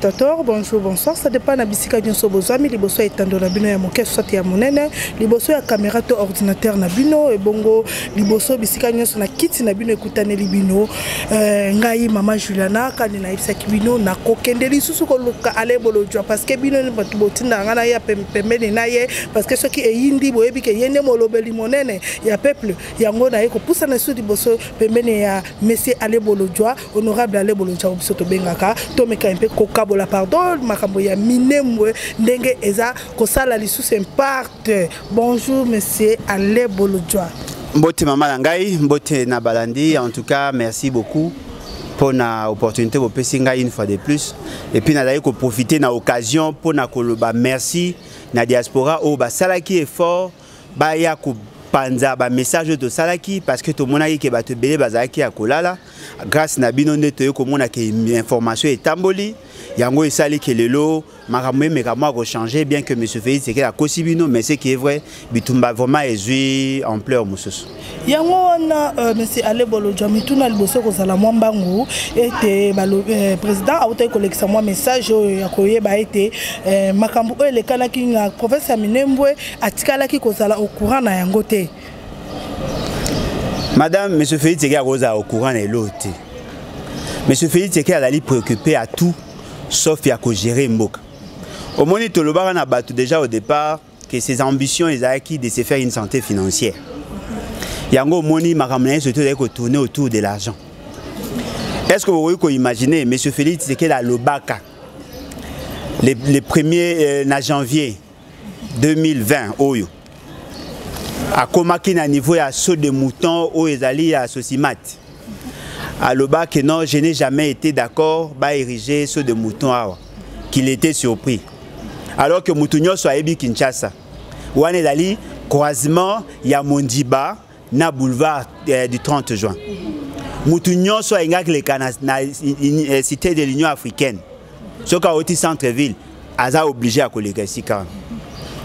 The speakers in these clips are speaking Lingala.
Tator, bonjour, bonsoir. Ça dépend na bisika nyoso bozwami liboso ya etando na bino ya moke soit ya monene, liboso ya kamera to ordinateur na bino ebongo liboso bisika nyoso na kiti na bino ekutaneli bino. Euh, ngai mama Juliana kani na yebisaki bino na kokende lisusu koluka ale bolojwa parce que bino bato botinda ngai na ye ya pem- pembeni na ye parce que soki eyindi boyebi ke ye nde molobeli monene ya peuple yango na ye kopusana lisusu liboso pembeni ya monsieur ale bolojwa honorable ale bolonja biso tobengaka tomeka mpe kokabola pardon makambo ya minembwe ndenge eza kosala lisusu imparte bonjour monsieur ale bolodjwa mbote mama na ngai mbote na balandi en tout cas merci beaucoup mpo na opportunité bopesi ngai une fois de plus et puis nazali koprofite na occasion mpo na koloba merci na diaspora oyo basalaki effort baya kopanza bamessage oyo tosalaki parce que tomonaki ke bato ebele bazalaki ya kolala grâce na bino nde toyei komona ke information etamboli yango esali ke lelo makambo emeka mwa kochange bien que monsieur félix ekele akosi bino mais ce qui est vrai bitumba vraiment ezwi ampleur mosusu yango wana euh, monsieur ale bolodjwa mituna liboso kozala mwa mbangu ete euh, président autaki kolekisa mwa message oyo ya koyeba ete euh, makambo oyo elekanaki na province ya minembwe atikalaki kozala au courant na yango te madame monsieur félix eke akozala au courant na eloo te monsieur félix eke azali préoccupé à tout sauf ya kogere mboka omoni tolobaka na bato déjà au départ que ses ambitions ezalaki de se faire une santé financière yango omoni makambo na ye surtout ezali kotourne autour de l'argent est ce que bokoki koimagine m félix tshisekedi alobaka le, le premier euh, na janvier 2020 oyo akomaki na niveau ya saut de mouton oyo ezali ya sosimate aloba que non je n'ai jamais été d'accord ba ériger ceux de mouton awa qu'il était surpris alors que mutu nyonso ayebi kinshasa wana ezali croisement ya mondiba na boulevard euh, du 30 juin mutu nyonso ayingaki leka na, na euh, cité de l'union africaine soki awoti centre ville aza oblige ya koleka esika wana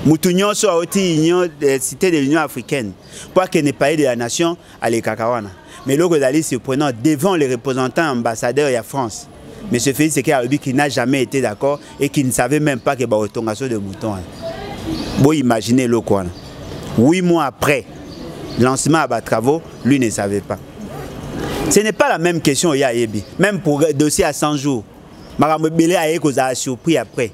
mutu nyonso awoti union euh, cité de l'union africaine mpo akende palais de la nation alekaka wana mais eloko ezali surprenant devant les représentants ambassadeurs ya france monsieur félix eke alobi qui n'a jamais été d'accord et qui ne savait même pas que bakotonga so de mouton wana boimagine eloko wana 8 mois après lancement ya batravaux lui ne savait pas ce n'est pas la même question oyo ayebi même pour dossier à 100 jours makambo ebele aye kozala surpris après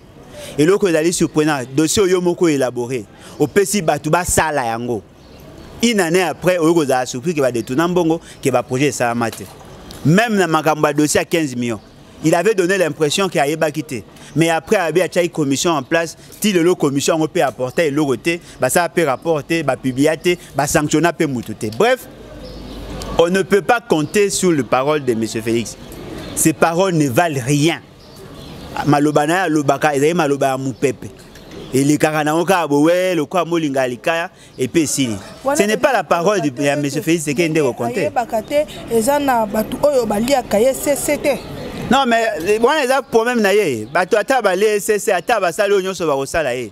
eloko ezali surprenant dossier oyo moko élaboré opesi bato basala yango une année après oyo kozala surpris ke badetourna mbongo ke baprojet esalama te même na makambo ya dossier ya 15 millions il avait donné l'impression ke ayebaki te mais après abi atiaki commission en place ti lelo commission yango mpe apporta eloko te basala mpe rapport te bapublia te basanctionna mpe motu te bref on ne peut pas compter sur le parole de m félix ces paroles ne valent rien maloba na ye alobaka ezali maloba ya mopepe elekaka nango kaka bowe lokola molinga ya likaya epe esili ce n'est pas la parole ya monsieur félix seke nde kokonteyebaka te eza na bato oyo baliaka ye sese te non mais wana eza problème na ye bato ata balie sese ata basali oyo nyonso bakosala ye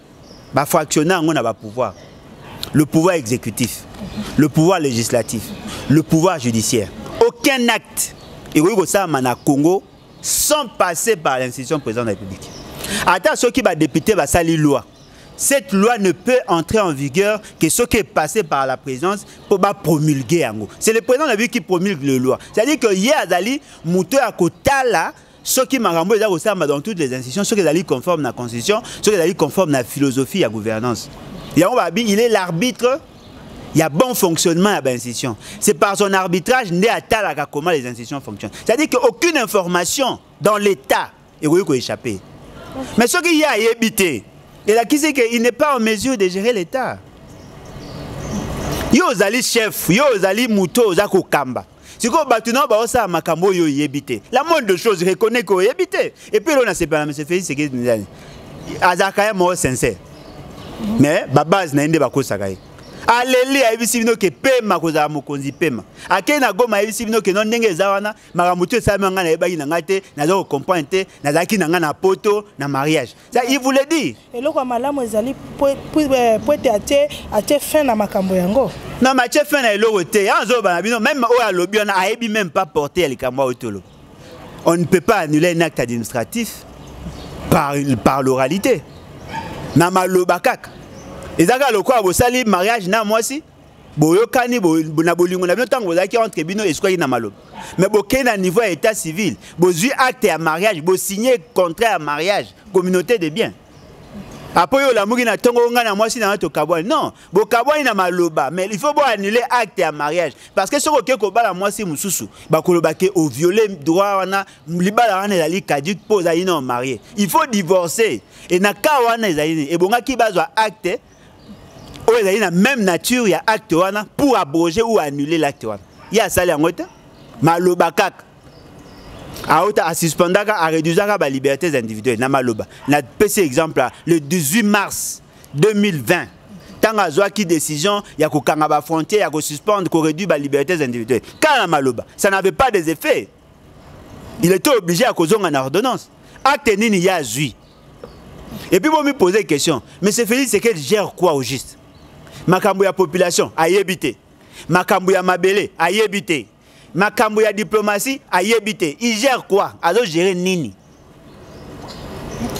ba fractionner yango na ba pouvoir le pouvoir exécutif le pouvoir législatif le pouvoir judiciaire aucun acte ekoki kosalama na congo sans passer par l'institution président de la république ata soki badepute basali loi cette loi ne peut entrer en vigueur que ce qui est passé par la présence pour ba promulguer yango c'est le président de la République qui promulgue les lois c'est-à-dire que ye azali moto ya kotala soki makambo oyo eza kosalama dans toutes les institutions soki ezali conforme na constitution soki ezali conforme na philosophie ya gouvernance yango babi il est l'arbitre ya bon fonctionnement ya bainstitution c'est par son arbitrage nde atalaka comment les institutions fonctionnent c'est à dire que aucune information dans l'état ekoki koéchappe mais soki ye ayebi te elakisi ke il n'est pas en mesure de gérer l'état yo ozali chef yo ozali moto oza kokamba sikoyo bato nao baosala makambo oyo oyebi te la mode de chose reconnai ke oyebi te epuis elo nasepela na monsieur félix sekedi nzani azalaka ye moko sincere mais babase na ye nde bakosaka ye aleli ayebisi bino ke pema kozala mokonzi pema akei na goma ayebisi bino ke no ndenge eza wana makambo tu esalami ngai nayebaki na ngai te naza kocomprendre te nazalaki na ngai na poto na mariage il vous le dit eloko ya malamu ezali po ete atie atie fin na makambo yango na matie fin na eloko te yango azoloba na bino meme oyo alobi wana ayebi meme pas porte ya likambo oyo toloba on ne peut pas annuler un acte administratif par, par l'oralité na maloba kaka eza kaka lokola bosali mariage na mwasi boyokani bo, na bolingo na bino ntango bozalaki entre bino esukwaki na maloba mais bokei na niveau ya état civil bozwi acte ya mariage bosigne contrat ya mariage communauté de bien apo yo olamuki na ntongo ngai na mwasi na yo tokabwani non bokabwani na maloba mais il faut boannule acte ya mariage parce que soki okei kobala mwasi mosusu bakoloba ke oviole droit wana libala wana ezali caduque mpo ozali nao marie il faut divorce e na cas wana ezali nini ebongaki bazwa acte oyo ezali na même nature ya acte wana pour abroger ou annuler l'acte wana ye asali yango te maloba kaka auta asuspendaka areduisaka balibertés individuelles na maloba napesi exemple le 18 mars 2020 ntango azwaki décision ya kokanga bafrontière ya kosuspendre koréduire balibertés individuelles kaka na maloba ça n'avait pas des effets il était obligé ya kozonga na ordonnance acte nini ye azwi Et puis vous me posez une question. M. Félix Sekedi gère quoi au juste Makambo ya population a yébité. Makambo ya mabele a yébité. Makambo ya diplomatie a yébité. Il gère quoi Azo gérer nini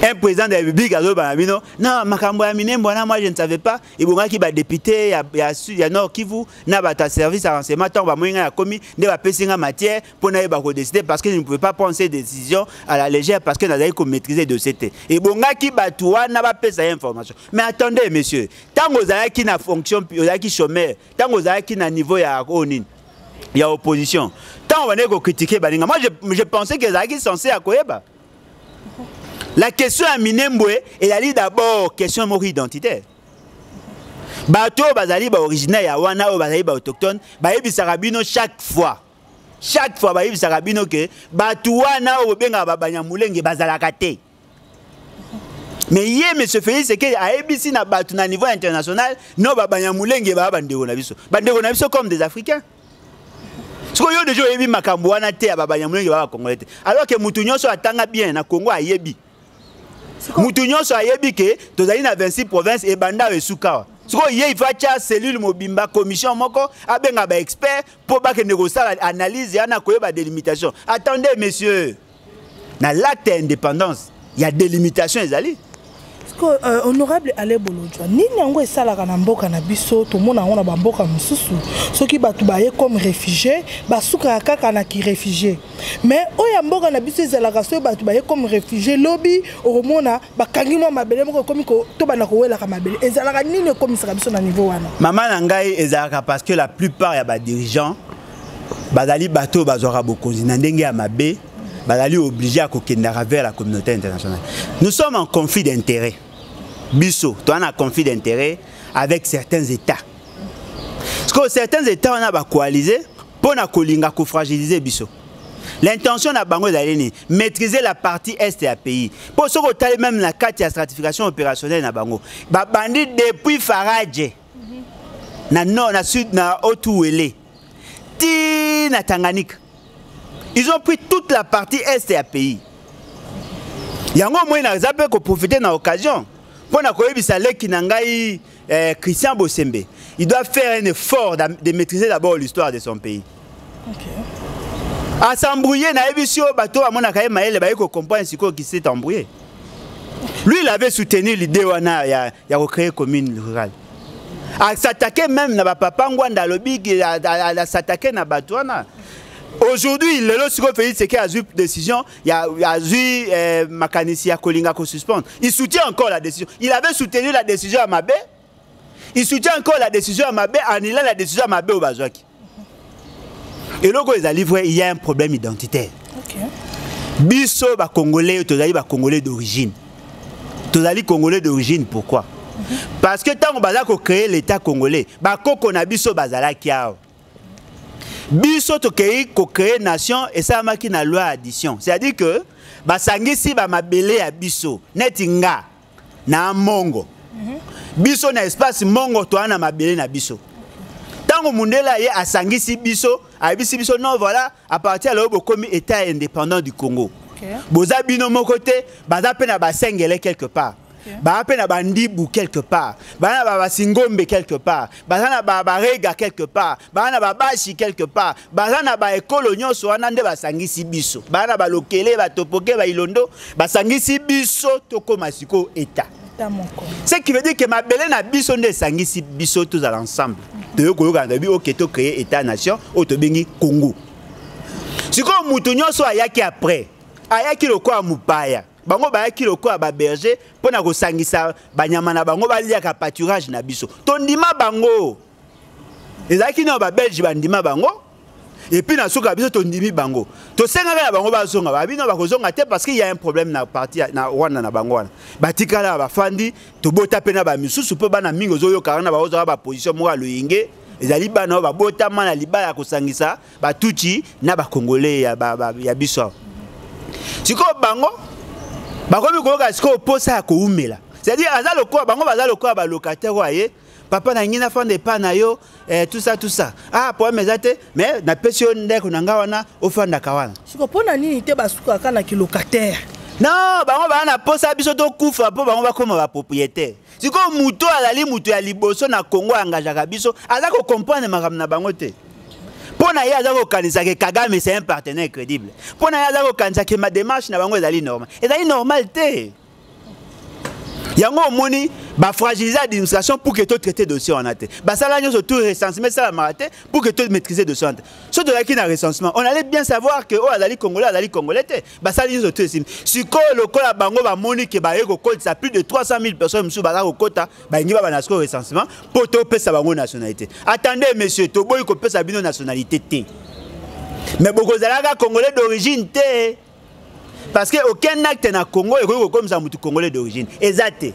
un président de la République a bino na makambo ya minembo wana moi je ne savais pas ebongaki badepute ya, ya, ya nord kivu na bato ya service ya renseignement ntango bamoi ngai nakomi nde bapesi ngai matière mpo nayeba kodeside parce que je ne pouvais pas prendre ces décisions à la légère parce que nazalaki komaîtrise dossier te ebongaki bato wana bapesa ye information mais attendez monsieur ntango ozalaki na fonction ozalaki chômeur ntango ozalaki na niveau ya oyo oh, nini ya opposition ntango bandeki kokritike baninga moi je, je pensais que ezalaki censé ya koyeba la question ya minembwe ezali d'abord question moko identitaire bato oyo bazali baoriginaire ya wana oyo bazali baautochtone bayebisaka bino chaque fois chaque fois bayebisaka bino ke bato wana oyo bobengaka babanyamulenge bazalaka te mais ye monsieur félix sekeli ayebisi na bato na niveau international no babanyamulenge baa bandeko na biso bandeko na biso comme des africains siko yo deja oyebi makambo wana te ya babanyamulenge baa bacongolais te alors ke moto nyonso atanga bien na congo ayebi mutu nyonso ayebi ke tozali na 26 province ebanda oyo esukawa sikoyo ye ifa atya cellule mobimba commission moko abenga baexpert mpo bakende kosala analyse yana koyeba délimitation attendez monsieur na l'acte ya indépendance ya délimitation ezali sikoyo euh, honorable ale bolodjwa nini yango esalaka na mboka na biso tomona yango na bamboka mosusu soki bato baye comme réfugié basukaka kaka na kiréfugié mais oyo ya mboka na biso ezalaka soki bato baye comme réfugié lobi okomona bakangi mwa mabele moko ekomi tobanda kowelaka mabele ezalaka nini ekomisaka biso na niveau wana mama na ngai ezalaka parce que la plupart ya badirigeant bazali bato oyo bazwaka bokonzi na ndenge ya mabe bazali oblige ya kokendaka vers la communauté internationale nous sommes en conflit d'intérêt biso toza na conflit d'intérêt avec certains états parce que certains états wana bacoalise mpo na kolinga kofragilize biso l'intention na bango ezali nini maîtriser la partie est ya pays mpo soki otali meme na kati ya stratification opérationnelle na bango babandi depuis faradje na nord na sud na otuwele ti na tanganyika ils ont pris toute la partie est ya pays yango omoi naza mpe koprofite na occasion mpo na koyebisa leki na ngai eh, Christian Bosembe, il doit faire un effort de maîtriser d'abord l'histoire de son pays. Okay. À s'embrouiller, na ebisio bateau à mon akaye maele baye ko comprendre ce qui s'est embrouillé. Lui, il avait soutenu l'idée wana ya ya recréer commune rurale. À s'attaquer même na papa Ngwanda lobi à s'attaquer na bateau wana. Aujourd'hui, le lot siko Félix Tshisekedi a eu décision ya azui eh, makanisi ya kolinga ko suspendre il soutient encore la décision il avait soutenu la décision ya mabe il soutient encore la décision ya mabe anila la décision ya mabe oyo bazwaki eloko oyo ezali vrai il y a un problème identitaire okay. biso bacongolais tozali bacongolais d'origine tozali congolais d'origine pourquoi mm -hmm. parce que ntango baza kocreye l'état congolais bakoko na biso bazalaki awa biso tokei kocree nation esalamaki na loi ya addition c'est-à-dire que basangisi bamabele ya biso neti nga na mongo mhm. biso na espace mongo toa na mabele na biso ntango mundele aye asangisi biso ayebisi biso non voilà à partir ya lelo bokomi état indépendant du congo okay. boza bino moko te baza mpe na basengele quelque part baa mpe na bandibu quelque part baa na babasingombe quelque part baza na barega quelque part baa na babashi quelque part baza na baekolo nyonso wana nde basangisi biso baa na balokele batopoke bailondo basangisi biso tokóma sikoyo etat ce qui veut dire que mabele na biso nde esangisi biso tozala ensemble toyo koyokana toyebi oke to créer état nation oyo tobengi congo sikoyo moto nyonso ayaki après ayaki lokola mopaya bango bayaki lokola baberger mpo na kosangisa banyama na bango baliaka pâturage na biso tondima bango ezalaki nao babelge bandima bango epuis na suka biso tondimi bango tosengaka na bango bazonga babino bakozonga te parce qu'il y a un problème na parti na rwanda na bango wana batikala bafandi tobota mpe na bamisusu mpo bana mingi ozoyokaka na baozaka baposition moko ya loyenge ezali bana oyo babotama na libala ya kosangisa ba tutsi na ba congolais ya ba, ba, ya biso awa sikoyo bango bakomi koyoka sikoyo posa ya koumela c'est-à-dire aza lokola bango baza lokola ba locataire oyo aye papa na ngi nafanda epai na yo eh, tout ça tout ça ah problème eza te mais napesi yo ndeko na ngai wana ofandaka wana siko mpo na nini te basukaka na kilocataire non bango baa na mposa biso tokufa mpo bango bakoma bapropriétaire sikoyo moto oyo azali moto ya liboso na kongo ayangajaka biso aza kokomprendre makambo na bango te mpo na ye aza kokanisa ke kagame c'est un partenaire crédible mpo na ye aza kokanisa ke mademarche na bango ezali normal ezali normal te yango omoni bafragilise administration pour que totraite dossier wana te basala nyonso tout recensement esalamaka te pour que tomaîtrise dossier wana te soki tozalaki na recensement on allait bien savoir que oyo oh, azali congolais azali congolais te basali nyonso to esili sikoyo lokola bango bamoni ke baye kokotisa plus de 300 000 personnes mosusu baza kokota balingi babana sikoyo recensement mpo topesa bango nationalité attende monsieur toboyi kopesa bino nationalité te mais bokozalaka congolais d'origine te parce que aucun acte na congo ekoki kokomisa motu congolais d'origine eza te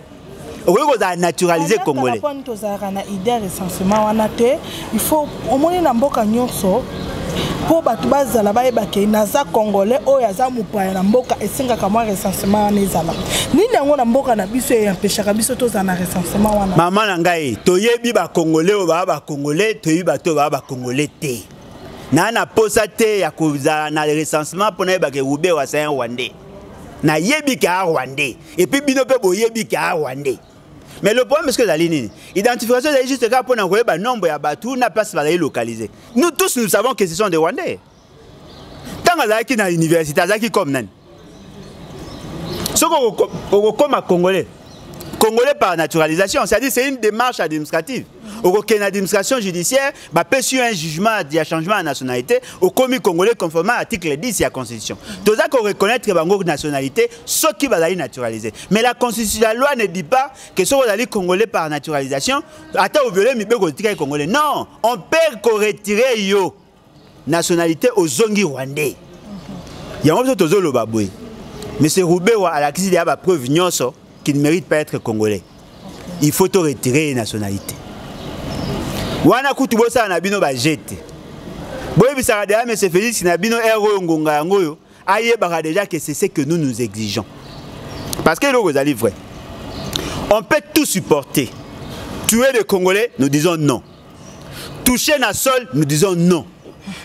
okoki kozala naturalise congolais tozalaka na idée ya recensement wana te il faut omoni na mboka nyonso mpo bato bazala bayeba ke naza congolais oyo aza mopaya na mboka esengaka mwa recensement wana ezala nini yango na mboka na biso eyampeshaka biso tozala na recensement wana mama na ngai toyebi bacongolais oyo baa bacongolais toyebi bato oyo baa bacongolais te naa na mposa te ya kozala na recensement mpo nayebaka eube wasa ya rwandais nayebi ke a rwandais et puis bino pe boyebi ke a rwandais mais le problème ce que ezali nini identification ezali juste kaka mpona koyeba nombre ya bato na place bazali localiser nous tous nous savons que ce sont des rwandais ntango azalaki na université azalaki comme nani soki okokoma congolais congolais par naturalisation c'est-à-dire c'est une démarche administrative okokende na administration judiciaire bapesi yo un jugement ya changement ya nationalité okomi congolais conformément article 10 ya constitution toza koreconnaitre bango nationalité soki bazali naturalise mais la constitution la loi ne dit pas que soki ozali congolais par naturalisation ata oviole mibeko otikaki congolais non on peut koretire yo nationalité ozongi rwandais yango biso tozoloba boye monsieur rubewa alakisi deya bapreuve nyonso qui ne mérite pas être congolais il faut to retirer ye nationalité wana kutu bosala na bino baje te boyebisaka deja monsieur félix na bino ere oyo ngonga yango oyo ayebaka deja que c'est ce que nous nous exigeons parce que eloko ezali vrai on peut tout supporter tuer les congolais nous disons non toucher na sol nous disons non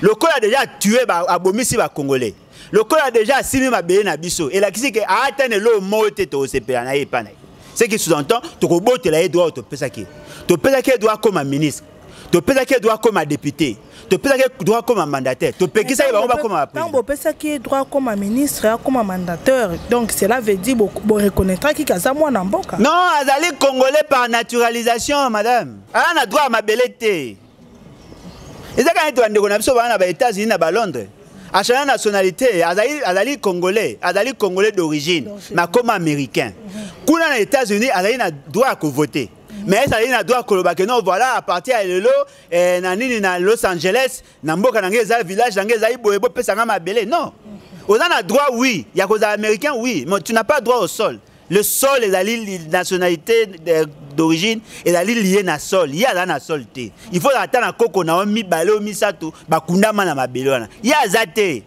lokola deja atue abomisi bacongolais lokola deja asimi mabele na biso elakisi ke ata na eloo moko te tokosepela na ye epai na ye ce qui sous-entend tokobotela ye droit topesaki ye topesaki ye droit akoma ministre topesaki ye droit akoma député topesaki ye droit akoma mandataire topekisaki bango bakoma ntango bopesaki ye droit akoma ministre akoma mandataire donc cela veut dire boreconnaitraki bo kaza mwana mboka non azali congolais par naturalisation madame aa na droit ya mabele te eza kaka neti bandeko na biso baa na ba états-unis na ba londres achana nationalité azali, azali congolais azali congolais d'origine makoma américain kuna na états-unis azali na droit ya kovote mais ezali na droit koloba ke non voilà à partir ya lelo eh, na nini na los angeles na mboka na ngai eza village na ngai ezali boye bopesa ngai mabele non oza na droit oui ya kozala américain oui mais tu n'as pas droit au sol le sol ezali nationalité d'origine ezali liye na sol ye aza na sol te il faut ata na koko na yo mibale oyo misato bakundama na mabele wana ye aza te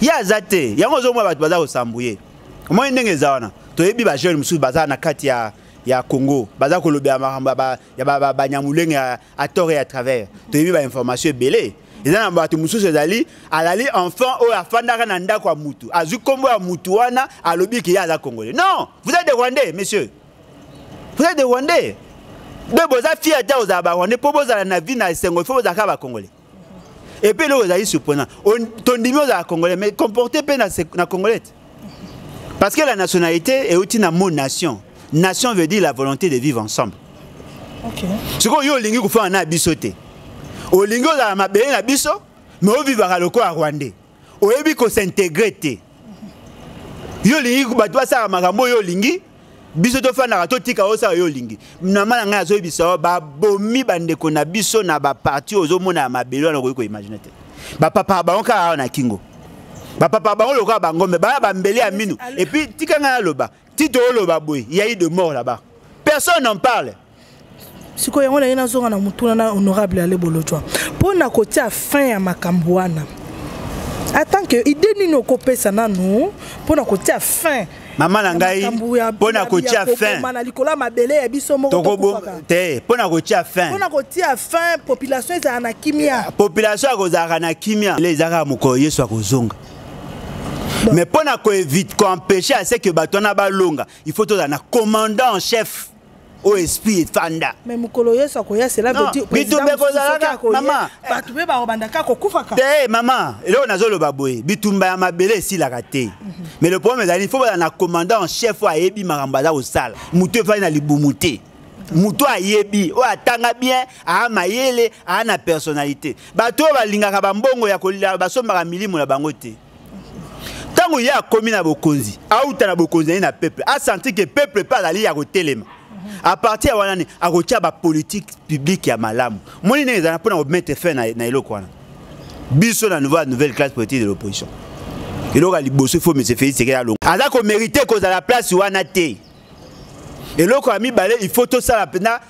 ye aza te yango ozomona bato baza kosambo ye omoni ndenge eza wana toyebi bajeune mosusu baza na kati ya ya congo baza kolobela makambo ya banyamulenge à tort et à travers toyebi ba information ebele eza na bato mosusu ezali alali enfant oyo afandaka na ndako ya mutu azwi nkombo ya mutu wana alobi ke ye aza congolais non vous êtes des rwandais monsieur vous êtes des rwandais nde boza fier ata ozala ba rwandais mpo bozala na vie na esengo ifo bozalaka ba congolais epe eloko ezali surprenant tondimi ozala congolais mais comporte mpe na congolais parce que la nationalité euti na mot nation nation veut dire la volonté de vivre ensemble sikoyo yo olingi kofana na biso te olingi ozala mabele na biso mais ovivaka lokola rwandais oyebi ko s'integrer te yo olingi bato basala makambo oyo olingi biso tofandaka totika osala yo olingi nama na ngai azoyebisa yo babomi bandeko na biso na baparti ozomona ya mabele wana okoki koimagine te bapapa bango kaka awa na kingo bapapa bango lokola bangombe baya bambele ya mino epuis tika ngai aloba tito oloba boye yai de mort là-bas personne n'en parle sikoyo yango naye nazonga na motuna na honorable ale bolojwa mpo na kotia fin ya makambo wana atant que idée nini okopesa nanu mpo na kotia fin mama na ngai mpo na kotia fin na likolo ya mabele ya biso moko te mpo na kotia fin mpo na kotia fin population ezalaka na kimia population akozalaka na kimia ezalaka mokolo yesu akozonga mais mpo na koevite koempêche à ce que bato wana balonga il faut tozala na commandant en chef oyo esprit efanda mais mokolo yesu akoya cela veut dire bitumba ekozalaka mama bato mpe bakobanda kaka kokufaka te mama eloko nazoloba boye bitumba ya mabele esilaka te mhm. mais le problème ezali il faut bazala na commandant en chef oyo ayebi makambo aza kosala moto efandi na libumu te moto oyo ayebi oyo atanga bien aa mayele aa na personnalité bato oyo balingaka bambongo ya kolia basombaka milimo na bango te ntango ye akomi na bokonzi auta na bokonzi na ye na peuple asentir ke peuple mpe azali ya kotelema a partir ya wana ni akotya bapolitique publique ya malamu moni ndenge ezala mpo na komete fin na, na eloko wana biso na nouveau nouvelle classe politique de l'opposition eloko ya liboso ifo monsieur félix sekela alongo aza komérite kozala place wana te eloko ya mibale il faut tosala mpenza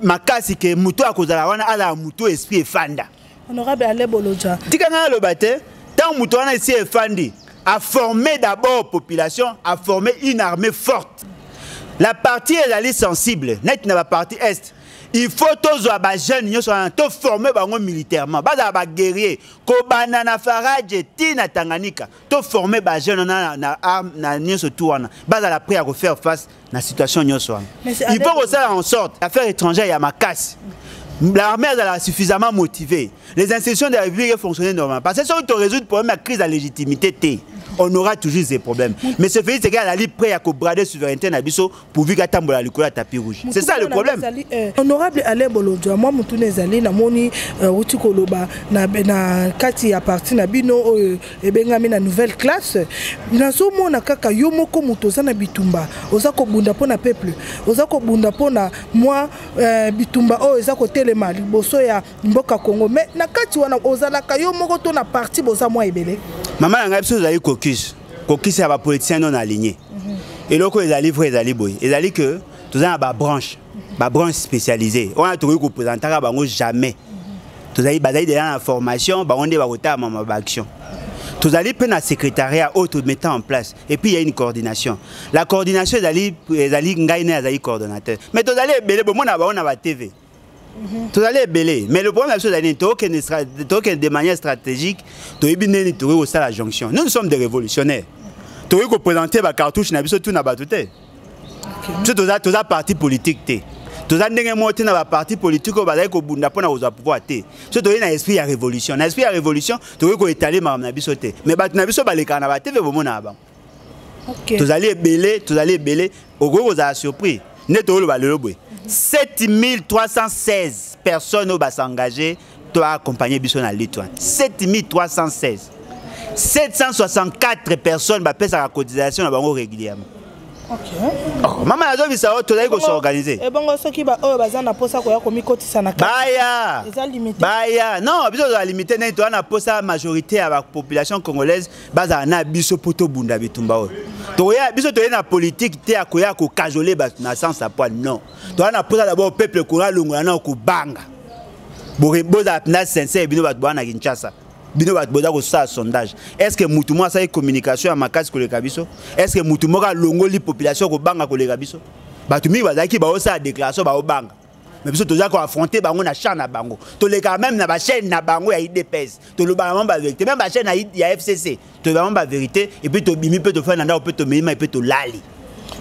makasi ke moto akozala wana azala moto esprit efanda honorable ale boloja tika ngai aloba te ntango moto wana esi efandi a formé d'abord population a formé une armée forte la partie ezali sensible neti na bapartie est il faut tozwa bajeune nyonso wana toforme bango militairement bazala baguerrier kobanda na faraje ti na tanganyika to former ba jeunes na na arme na nioso tout wana bazala prêt à faire face na situation nioso wana il faut kosala en sorte affaire étrangère ya makasi l'armée azala suffisamment motivée les institutions de la république fonctionner normalement parce que soki to résoudre problème ya crise ya légitimité te on aura toujours des problèmes mais ce pays c'est qu'à la libre prêt à brader souveraineté na biso pourvu qu'atambola likolo ya tapis rouge c'est ça le problème eh, honorable alain bolodjwa mwa motuna ezali namoni eh, wuti koloba na, na kati ya parti na bino oyo euh, ebengami na nouvelle classe nazomona kaka yo moko moto oza na bitumba oza kobunda mpo na peuple oza kobunda mpo na mwa eh, bitumba oyo eza kotelema liboso ya mboka congo mais na kati wana ozalaka yo moko to na parti boza mwa ebele mama na ngai biso ozali kokise kokisa ba politiciens non alignés mhm. eloko ezali vrai ezali boye ezali que toza na ba branche ba branche spécialisée wana tokoki kopresentaka bango jamais tozali bazali deja na formation bango nde bakotalama ma baaction tozali mpe na secrétariat oyo tometa en place et puis il y a une coordination la coordination ezali ezali ngai naye azali coordonnateur mais tozali ebele bomona bango na batv Mhm. tozali ebele mais le problème na biso ezali nini tokende de manière stratégique toyebi ndeni tokoki kosala jonction nous nous sommes des révolutionnaires tokoki koprésente bacartouche na biso tuna bato te biso toza parti politique te toza ndenge moko te na baparti politique oyo bazali kobunda mpo na kozwa pouvoir te biso toyei na esprit ya révolution na esprit ya révolution tokoki koetale makambo na biso te mais bato na biso balekaka na bateve bomonaka bango okay. tozali ebele tozali ebele okoki kozala surpris nde toyoloba lelo boye 7316 personnes oyo basengage to accompagne biso na lutte wana 7316 764 personnes bapesaka cotisation na bango régulièrement oh, mama nazobisa oyo tozali kosorganize ebongo eh, soki baoyo baza na mposa koya komikotisa na baya baya non biso tozala limite nani toza na mposa majorité ya bapopulation congolaise bazala na biso mpo tobunda bitumba oyo tokoya biso toye na politike te ya koya kokajole bato na sens ya poil non toya na mposa dabord peuple ekoya longola nao kobanga bozala mpenza sincere bino bato boya na kinshasa bino bato boza kosala sondage est ce que motu moko asali communication ya makasi koleka biso est ce que motu moko alongoli population kobanga koleka biso bato mingi bazalaki baosala déclaration baobanga mais biso toza ko affronter bango na champ na bango tolekaka même na bachaîne na bango ya idps tolobaka bango bavérité même bachaîne ya fcc tolobaka bango bavérité epuis tobimi mpe tofai na ndako mpe tomeima epuis tolali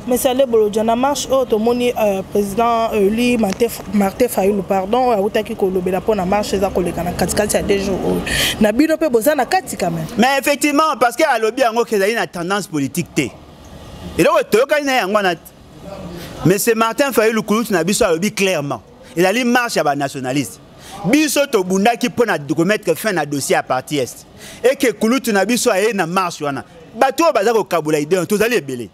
monsieur lebolodja na marche oyo tomoni euh, président eli martin fayulu pardon oyo autaki kolobela mpo na marche eza koleka na katikati ya deux jours oyo na bino mpe boza na kati quand même mais effectivement parce que alobi yango ke ezali na tendance politique te eloko toyokani na yango wana monsieur martin fayulu kulutu na biso alobi clairement ezali marche ya banationaliste biso tobundaki mpo na komettre fin na dossier ya parti est eke kulutu na biso aye na marche wana bato oyo baza kokabola idee tozali ebele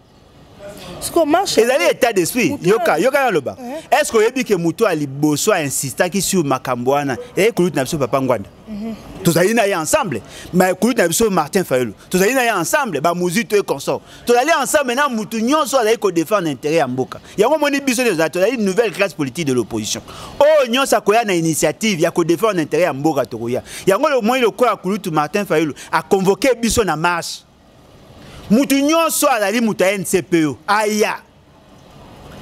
ezali état d'esprit yoka yoka naloba est ce que oyebi ke moto ya liboso ainsistaki sur makambo wana eyei kulutu na biso papa ngwanda tozali na ye ensemble mais kulutu na biso martin fayulu tozali na ye ensemble bamuzito e consort tozali ensemble na motu nyonso azali kodefendre intérêt ya mboka yango omoni biso nde tozali tozali nouvelle classe politique de l'opposition oyo oh, nyonso akoya na initiative ya kodefendre intérêt ya mboka tokoya yango omoni lokola kulutu martin fayulu aconvoke biso na marche mutu nyonso azali moto ya ncpo aya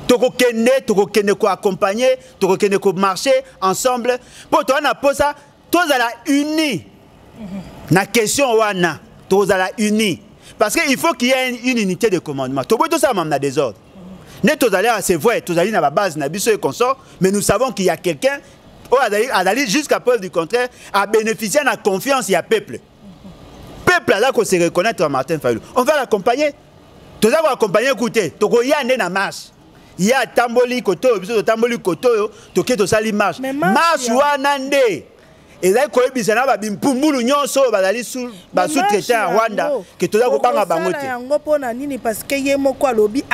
tokokende tokokende koaccompagne tokokende komarche ensemble mpo toza na mposa tozala uni na question wana tozala uni parce que il faut qu'il y ait une unité de commandement toboyi tosala mame na désordre nde tozali awa c'est vrai tozali na babase na biso et consort mais nous savons qu'il y a quelqu'un oyo azali jusqu'à preuve du contraire abénéficie na confiance ya peuple peuple aza ko se reconnaître Martin Fayulu on va l'accompagner toza ko accompagner kute tokoya nde na marche ye atamboli kote oyo biso totamboli kote oyo toke tosali marche marche wana nde ezali koyebisa na babimpumbulu nyonso oyo bazali basous-traité ya rwanda ke toza kobanga bango te yango mpo na nini parceke ye moko alobi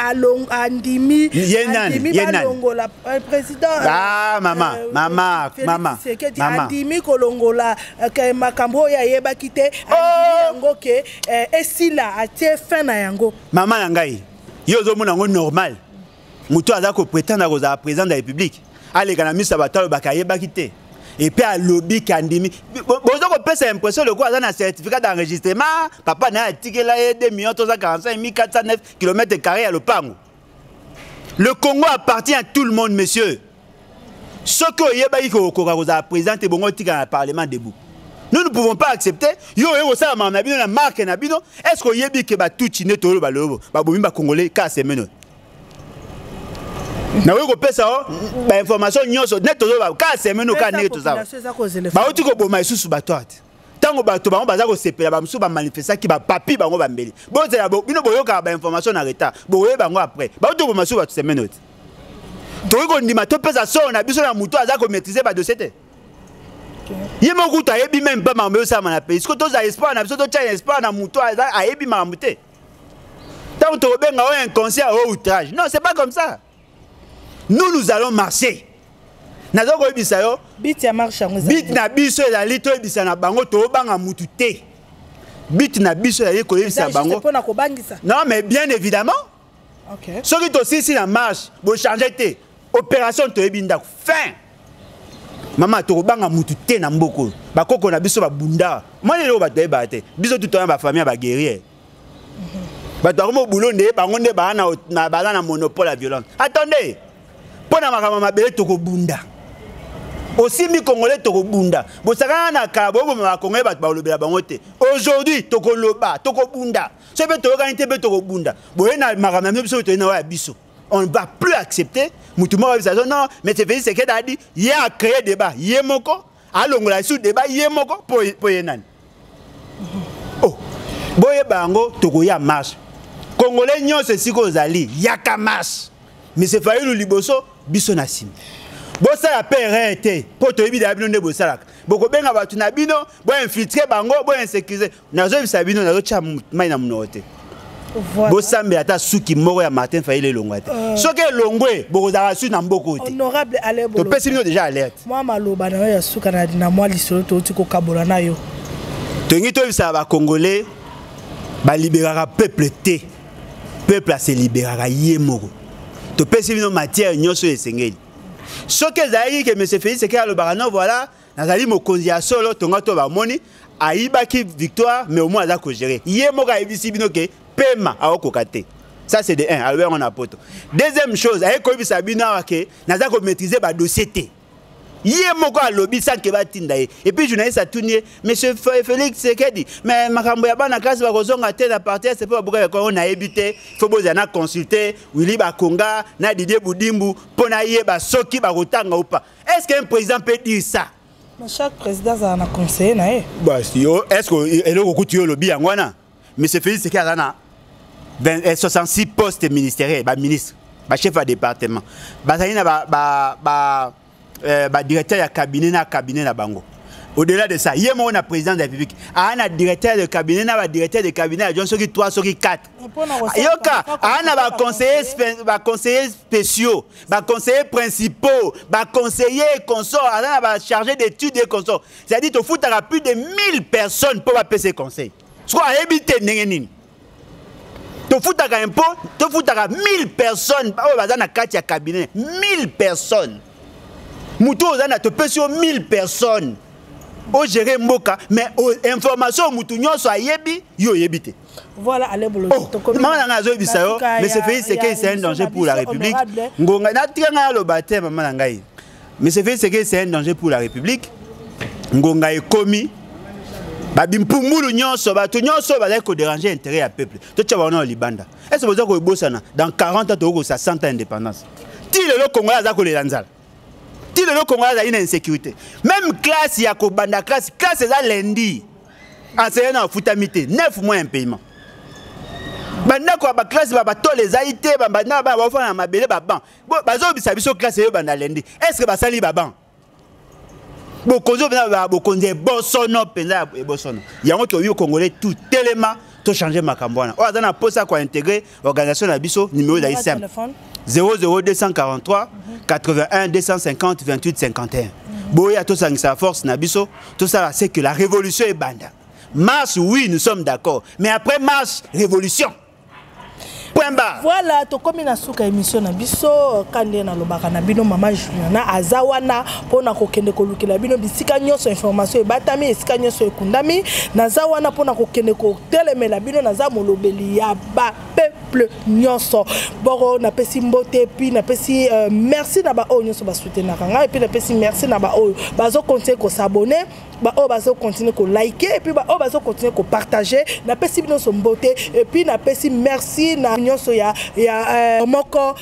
andimi ye nani ye nanialongola euh, président ah, mama euh, mama mama andimi kolongola ke makambo oyo ayebaki te oh! andimi yango ke eh, esila atie fin na yango mama na ngai yo ozomona yango normal moto aza kopretendre kozala président de la république aleka na miso ya bato alobaka ayebaki te epuis alobi kandimi boza kopesa impression lokola aza na certificat d'enregistrement papa na ye atikela ye 2 million toza 45 1409 kilomètre carré ya lopango Le Congo appartient à tout le monde, monsieur. Ce que Yebaki Kokoka vous a présenté, bon, on dans le Parlement debout. Nous ne pouvons pas accepter. Yo, yo, ça, ma nabino, la marque nabino. Est-ce que Yebi que ba tout chine tolo ba lobo, ba bomi ba congolais, ka se meno. Na weko pesa o, oh, ba information nyoso, net tolo ba, ka se meno, ka ne to za. Ba oti ko boma isusu ba toate. ntango bato bango baza kosepela bamosusu bamanifestaki bapapi bango bambeli bozela bino boyokaka bainformation na retard bokoye bango après bauti koboma susu bato semene oti tokoki kondima topesa solo na biso na moto aza komaîtrise badosie te ye moko kutu ayebi meme mpe makambo eyosalama na pays siko tozala espoir na biso totya na espoir na moto ayebi makambo te ntango tokobenga oyo inconscient oyo outrage non c'est pas comme ça nous nous allons marcher naza koyebisa yo bit ya marche yango bit na biso ezali toyebisa na bango tobanga mutu te bit na biso ezali koyebisa bango mpona kobangisa non mais bien évidemment okay. soki tosilisi na marche bochange te opération toyebi ndako fin mama tokobanga mutu te na mboka oyo bakoko na biso babunda mwana eloko bato bayebaka te biso tutoya bafamille ya baguerrier bato bakomi obulo nde bango nde baza na monopole ya violence attendez mpo na makambo mabele tokobunda osimbi congolais tokobunda bosakana na kala boyokoma bakongolais bato bakolobela bango te aujourd'hui tokoloba tokobunda so mpe toyokani te mpe tokobunda boye na makambo ya mio biso toyei na oyo ya biso on ne va plus accepter mutu moko abisa non mais c'est Félix Sekedi a dit ye a créé débat ye moko alongola lisusu deba ye moko mpo ye nani oh. boyeba yango tokoya marche kongole nyonso esika ozali yaka marche mise fayulu liboso biso na nsima bosala mpe erreur te mpo toyebi daya bino nde bosalaka bokobenga bato na bino boinfiltre bango boinsécurise nazoyebisa bino nazotya mai na monoko te voilà. bosambela ata suki moko ya martin fayile elongwa te euh... soki elongwe bokozala suki na mboko te topesi bino deja alerte mwa maloba na yo ya suka na mwa lisolo touti kokabola na yo tolingi toyebisaka bacongolais baliberaka peuple te peuple aseliberaka ye moko topesi bino matière nyonso oyo esengeli soki ezalaki ke monsieur félix eke alobaka no voilà nazali mokonzi ya solo tonga to bamoni ayibaki victoire mais au moins aza kogere ye moko ayebisi bino ke pema aokoka te ça c'est de 1 alobi yango na poto deuxième chose aye koyebisa bino awa ke naza komaîtrise badossier te ye moko alobi sanke batinda ye epuis journaliste atuni ye monsieur félix sekedi mais makambo ya bana klase bakozonga te na parti ese mpo babuka yakongo nayebi te fo bozala na consulte willi bakonga na didie budimbu mpo nayeba soki bakotanga upa est ce qu'un président peut dire ça na chaque président azala na conseiller na ye bas yo est ce que eloko okuti yo olobi yango wana monsieur félix seke aza na 66 eh, postes ministériels baministre bachef ya département bazali na badirecteur eh, ya cabinet na cabinet na bango au-delà de ça ye moko na président de la république aa na directeur de cabinet na badirecteur de cabinet ya jon soki 3 soki 4 yoka aa na baconseiller spéciaux baconseiller principaux baconseiller consort aza na bachargé d'étude ye consort c'est-à-dire tofutaka plus de 1000 personnes mpo bapesa conseil soko ayebi te ndenge nini tofutaka impo tofutaka 1000 personnes oyo baza na kati ya cabinet 1000 personnes motu oyo oza na topesi yo 1000 personnes ogere mboka mais information oyo motu nyonso ayebi yo oyebi te Voilà, allez, boulot. Oh, maman nanga azo bisa yo, mais c'est fait c'est que c'est un danger pour la République. Ngonga na tika nga lo baptême maman nanga yi. Mais c'est fait c'est que c'est un danger pour la République. Ngonga ekomi babimpumbulu nyonso bato nyonso bazali koderange intérêt ya peuple totya bango na libanda ese boza koyebosana dans 40 ans tokokosa 100 ans indépendance ti lelo congolais aza kolela nzala ti lelo kongo azali na insécurité même classe ya kobanda classe classe eza lundi enseignant na afutami te 9 mois impayement bandako ya baklasse ba batole ezali te babanda bana baofana na mabele baban bazobisa biso klasse eyo banda lendi est ce que basali baban bokonzi oyo mpenza bokonzi ebosono mpenza ebosono yango toyoki okongole tout telema tochange makambo wana oyo aza na mposa kointegre organisation na biso numero ezali simple 00243 81 250 28 51 boya tosangisa force na biso tosala ce que la révolution ebanda marche oui nous sommes d'accord mais après marche révolution Pemba. Voilà, tokomi na suka émission na biso kande na lobaka na bino mama Juliana aza wana pona kokende kolukela bino bisika nyonso information ebatami esika nyonso ekundami naza wana pona kokende ko telemela bino naza molobeli ya ba peuple nyonso boko napesi mbote epuis napesi uh, merci na baoyo nyonso basoutenaka ngai epuis napesi merci na baoyo bazokontinue kosabone baoyo bazokontinue kolike epuis baoyo bazokontinue kopartage napesi binonso mbote epuis napesi merci na nyonso ya, ya uh, moko